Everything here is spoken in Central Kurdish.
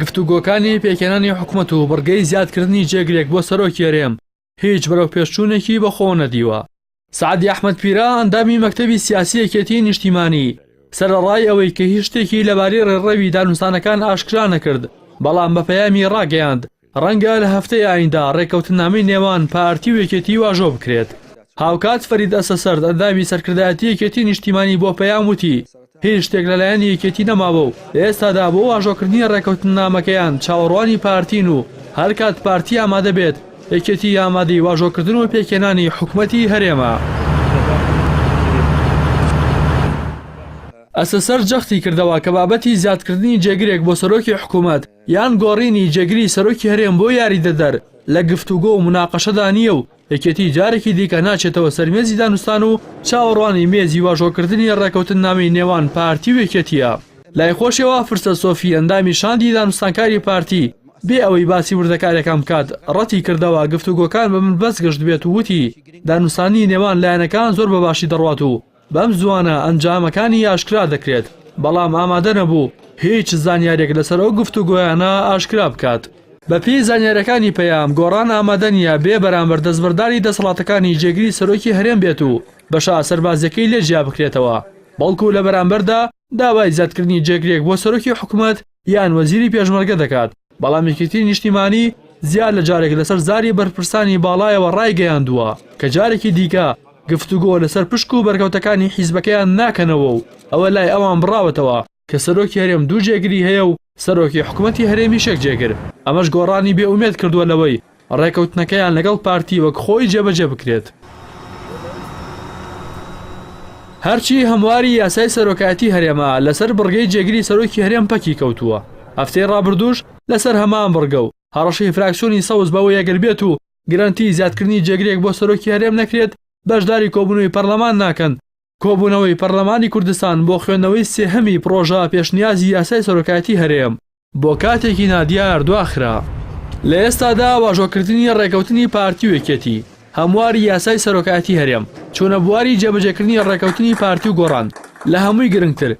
گفتوگۆکانی پێکهێنانی حکومەت و بڕگەی زیادکردنی جێگرێک بۆ سەرۆکی هەرێم هیچ بەرەوپێشچوونێکی بەخۆوە نەدیوە سعدی ئەحمد پیرا ئەندامی مەکتەبی سیاسی یەکێتی نیشتیمانی سەرەڕای ئەوەی کە هیچ شتێکی لەبارەی ڕێڕەوی دانوستانەکان ئاشکرا نەکرد بەڵام بە پەیامی ڕاگەیاند رەنگە لە هەفتەی ئایندە رێککەوتننامەی نێوان پارتی و یەکێتی واژۆ بکرێت. هاوکات فەرید ئەسەسەرد، ئەندامی سەرکردایەتی یەکێتی نیشتیمانی بۆ پەیام وتی، هیچ شتێک لەلایەن یەکێتی نەماوە و لە ئێستادا بۆ واژۆکردنی رێککەوتننامەکەیان چاوەڕوانی پارتین و هەرکات پارتی ئامادە بێت، یەکێتی ئامادەی واژۆکردن و پێکهێنانی حکومەتی هەرێمە. ئەسەسەرد جەختی کردەوە کە بابەتی زیادکردنی جێگرێک بۆ سەرۆکی حکومەت، یان گۆڕینی جێگری سەرۆکی هەرێم بۆ یاریدەدەر لە گفتوگۆ و مناقەشەدا نییە و یەکێتی جارێکی دیکە ناچێتەوە سەر مێزی دانوستان و چاوەڕوانی مێزی واژۆکردنی ڕێکەوتننامەی نێوان پارتی و یەکێتییە. لای خۆشیەوە فرسەت سۆفی ئەندامی شاندی دانوستانکاری پارتی بێ ئەوەی باسی وردەکاریەکان بکات ڕەتی کردەوە گفتوگۆکان بە بنبەست گەشتبێت و وتی دانوستانی نێوان لایەنەکان زۆر بەباشی دەڕوات و بەم زووانە ئەنجامەکانی ئاشکرا دەکرێت، بەڵام ئامادە نەبوو هیچ زانیارییەک لەسەر ئەو گفتوگۆیانە ئاشکرا بکات. بەپێی زانیارییەکانی پەیام، گۆڕان ئامادە نییە بێ بەرامبەر دەستبەرداری دەسەڵاتەکانی جێگری سەرۆکی هەرێم بێت و بەشە سەربازییەکەی لێ جیا بکرێتەوە، بەڵکو لە بەرامبەردا داوای زیادکردنی جێگرێک بۆ سەرۆکی حکومەت یان وەزیری پێشمەرگە دەکات، بەڵام یەکێتی نیشتیمانی زیاد لە جارێک لەسەر زاری بەرپرسانی باڵایەوە ڕایگەیاندووە کە جارێکی دیکە گفتوگۆ لەسەر پشک و بەرکەوتەکانی حیزبەکەیان ناکەنەوە و ئەوە لای ئەوان بڕاوەتەوە کە سەرۆکی هەرێم دوو جێگری هەیە و سەرۆکی حکومەتی هەرێمیش یەک جێگر، ئەمەش گۆڕانی بێ ئومێد کردووە لەوەی ڕێکەوتنەکەیان لەگەڵ پارتی وەک خۆی جێبەجێ بکرێت. هەرچی هەمواری یاسای سەرۆکایەتی هەرێمە لەسەر بڕگەی جێگری سەرۆکی هەرێم پەکی کەوتووە، هەفتەی ڕابردووش لەسەر هەمان بڕگە و هەڕەشەی فراکسیۆنی سەوز بەوەی ئەگەر بێت و گرەنتی زیادکردنی جێگرێک بۆ سەرۆکی هەرێم نەکرێت بەشداری کۆبوونەوەی پەرلەمان ناکەن، کۆبوونەوەی پەرلەمانی کوردستان بۆ خوێندنەوەی سێهەمی پڕۆژە پێشنیازی یاسای سەرۆکایەتی هەرێم بۆ کاتێکی نادیار دواخرا. لە ئێستادا واژۆکردنی ڕێکەوتنی پارتی و یەکێتی، هەمواری یاسای سەرۆکایەتی هەرێم، چوونە بواری جێبەجێکردنی ڕێکەوتنی پارتی و گۆڕان، لە هەمووی گرنگتر